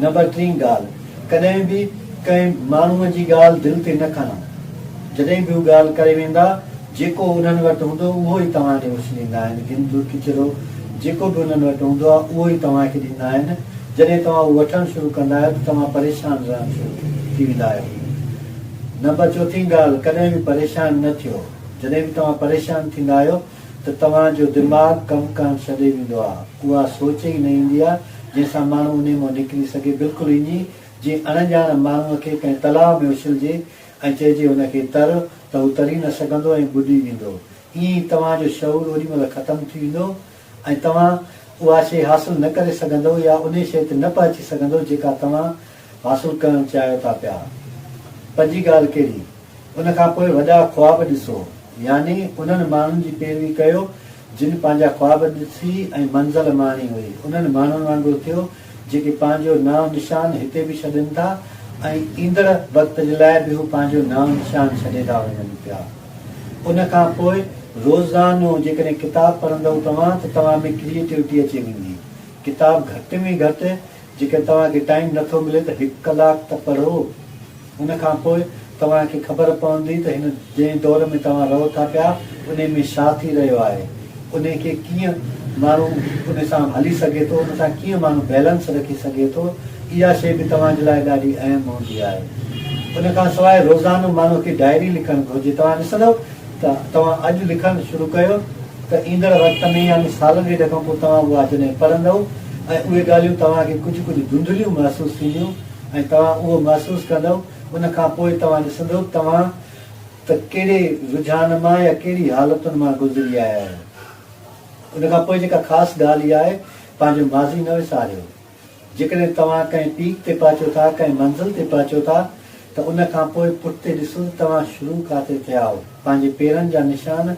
Number ٽين ڳالهه، ڪڏهن به ڪنهن ماڻهوء جي ڳالهه دل تي نه کڻو. جڏهن به هو ڳالهه ڪري ويندا، جيڪو انهن وٽ هوندو اهو ئي توهان ڏي اڇليندا آهن. گندو ڪچرو جيڪو به انهن وٽ هوندو آهي اهو ئي توهان کي ڏيندا آهن. جڏهن توهان اهو وٺڻ شروع ڪندا آهيو ته توهان پريشان رهڻ شروع ٿي ويندا آهيو. نمبر چوٿين ڳالهه، ڪڏهن به پريشان نه ٿيو. جڏهن به توهان پريشان ٿيندا آهيو، ته توهان جو دماغ ڪم ڪرڻ ڇڏي ويندو آ، اها سوچ ئي نه ايندي آ جنهن سان ماڻهو انهي مان نڪري سگهي، بلڪل ائين جيئن اڻ ڄاڻ ماڻهو کي ڪنهن تلاء ۾ اڇلجي ۽ چئجي هن کي تر ته هو تري نه سگهندو ۽ ٻڏي ويندو، ائين ئي توهان جو شعور اوڏي مهل ختم ٿي ويندو ۽ توهان اها شيء حاصل نه ڪري سگهندؤ يا انهي شيء تي نه پهچي سگهندؤ جيڪا توهان حاصل ڪرڻ چاهيو ٿا پيا. پر جي ڳالهه ڪهڙي؟ ان کان پوء وڏا خواب ڏسو، يعني انهن ماڻهن جي پيروي ڪيو، جن پنهنجا خواب ڏسي ۽ منزل ماڻي هئي. انهن ماڻهن وانگر ٿيو، جيڪي پنهنجو نانء نشان هتي به ڇڏين ٿا ۽ ايندڙ وقت جي لاء به هو پنهنجو نانء نشان ڇڏي ٿا وڃن پيا. ان کان پوء روزانو جيڪڏهن ڪتاب پڙهندؤ توهان ته توهان ۾ ڪريئيٽوٽي اچي ويندي. ڪتاب گهٽ ۾ گهٽ جيڪڏهن توهان کي ٽائيم نه ٿو ملي ته هڪ ڪلاڪ ته پڙهو. ان کان پوء توهان کي خبر پوندي ته هن جنهن دور ۾ توهان رهو ٿا پيا انهي ۾ ڇا ٿي رهيو آهي. انهي کي ڪيئن ماڻهو انهي سان هلي سگهي ٿو، ان سان ڪيئن ماڻهو بيلنس رکي سگهي ٿو. اها شيء به توهان جي لاء ڏاڍي اهم هوندي آهي. ان کان سواء روزانو ماڻهو کي ڊائري لکڻ گهرجي. توهان ڏسندؤ ته توهان اڄ لکڻ شروع ڪيو ته ايندڙ وقت ۾ يعني سالن ڏيڍ کان پوء توهان اها جڏهن پڙهندؤ ۽ اهي ڳالهيون توهان کي ڪجهه ڪجهه ڌنڌليون محسوس ٿينديون ۽ توهان اهو محسوس ڪندؤ ان کان پوء توهان ڏسندؤ توهان ته ڪهڙي رجحان مان يا ڪهڙي حالتن مان گذري آيا آهيو. ان کان پوء جيڪا خاص ڳالهه اها آهي پنهنجو ماضي نه وساريو. جيڪڏهن توهان ڪنهن پيڪ تي پهچو ٿا، ڪنهن منزل تي پهچو ٿا ته ان کان پوء پٺتي ڏسو ته توهان شروع ڪاتي ٿيا هئو. پنهنجي پيرن جا نشان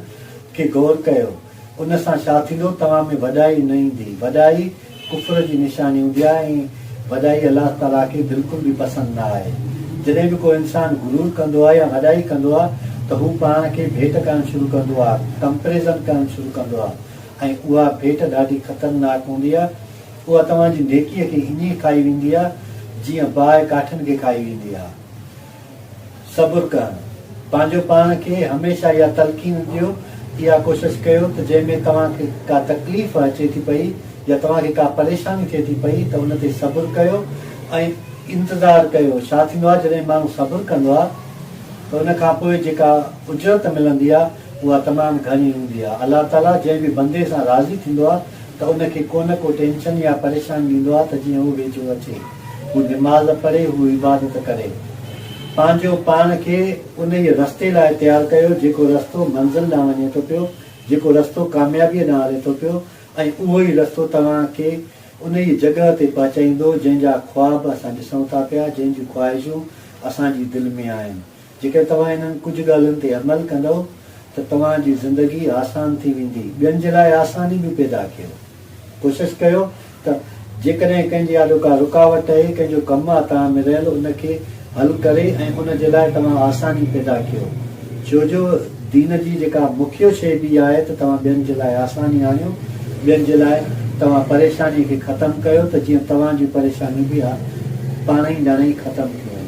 کي غور ڪيو. ان سان ڇا ٿيندو؟ توهان ۾ وڏائي نه ايندي. وڏائي ڪفر جي نشاني هوندي آهي ۽ وڏائي الله تعاليٰ کي بلڪل به پسند نه آهي. جڏهن به ڪو انسان غرور ڪندو آهي يا وڏائي ڪندو آهي ته هو پاڻ کي ڀيٽ ڪرڻ شروع ڪندو آهي، Comparison، ڪرڻ شروع ڪندو آهي ۽ اها ڀيٽ ڏاڍي خطرناڪ هوندي آهي. اها توهان جي نيڪيء کي ائين کائي ويندي آهي، جيئن باهه ڪاٺن کي کائي ويندي آهي. صبر ڪرڻ، پنهنجو پاڻ کي هميشه اها تلقين ڏيو، اها ڪوشش ڪيو ته جنهن ۾ توهان کي ڪا تڪليف اچي ٿي پئي يا توهان کي ڪا پريشاني ٿئي ٿي پئي ته ان تي صبر ڪيو ۽ انتظار ڪيو. ڇا ٿيندو آهي جڏهن ماڻهو صبر ڪندو آهي ته ان کان پوء جيڪا اجرت ملندي آهي اها تمام گهڻي هوندي آهي. الله تعاليٰ جنهن به بندي سان راضي ٿيندو آهي، ته ان کي ڪونه ڪو ٽينشن يا پريشان ڏيندو آهي ته جيئن هو ويجهو اچي، هو نماز پڙهي، هو عبادت ڪري. پنهنجو پاڻ کي انهيء رستي لاء تيار ڪيو، جيڪو رستو منزل ڏانهن وڃي ٿو پيو، جيڪو رستو ڪاميابيء ڏانهن هلي ٿو پيو ۽ اهو ئي رستو توهان کي انهيء جڳهه تي پهچائيندو، جنهن جا خواب اسان ڏسون ٿا پيا، جنهن جون خواهشون اسان جي دل ۾ آهن. جيڪڏهن توهان انهن ڪجهه ڳالهين تي عمل ڪندؤ ته توهان جي زندگي آسان ٿي ويندي، ٻين جي لاء آساني به پيدا ڪيو. ڪوشش ڪيو ته جيڪڏهن ڪنهن جي آڏو ڪا رڪاوٽ اهي، ڪنهن جو ڪم آ توهان ۾ رهيل ان کي حل ڪري ۽ ان جي لاء توهان آساني پيدا ڪيو. ڇو جو دين جي جيڪا مکيه شيء به آهي ته توهان ٻين جي لاء آساني آڻيو، ٻين جي لاء توهان پريشاني کي ختم ڪيو ته جيئن توهان جون پريشانيون به پاڻهئي ڄڻئي ختم ٿي وڃن.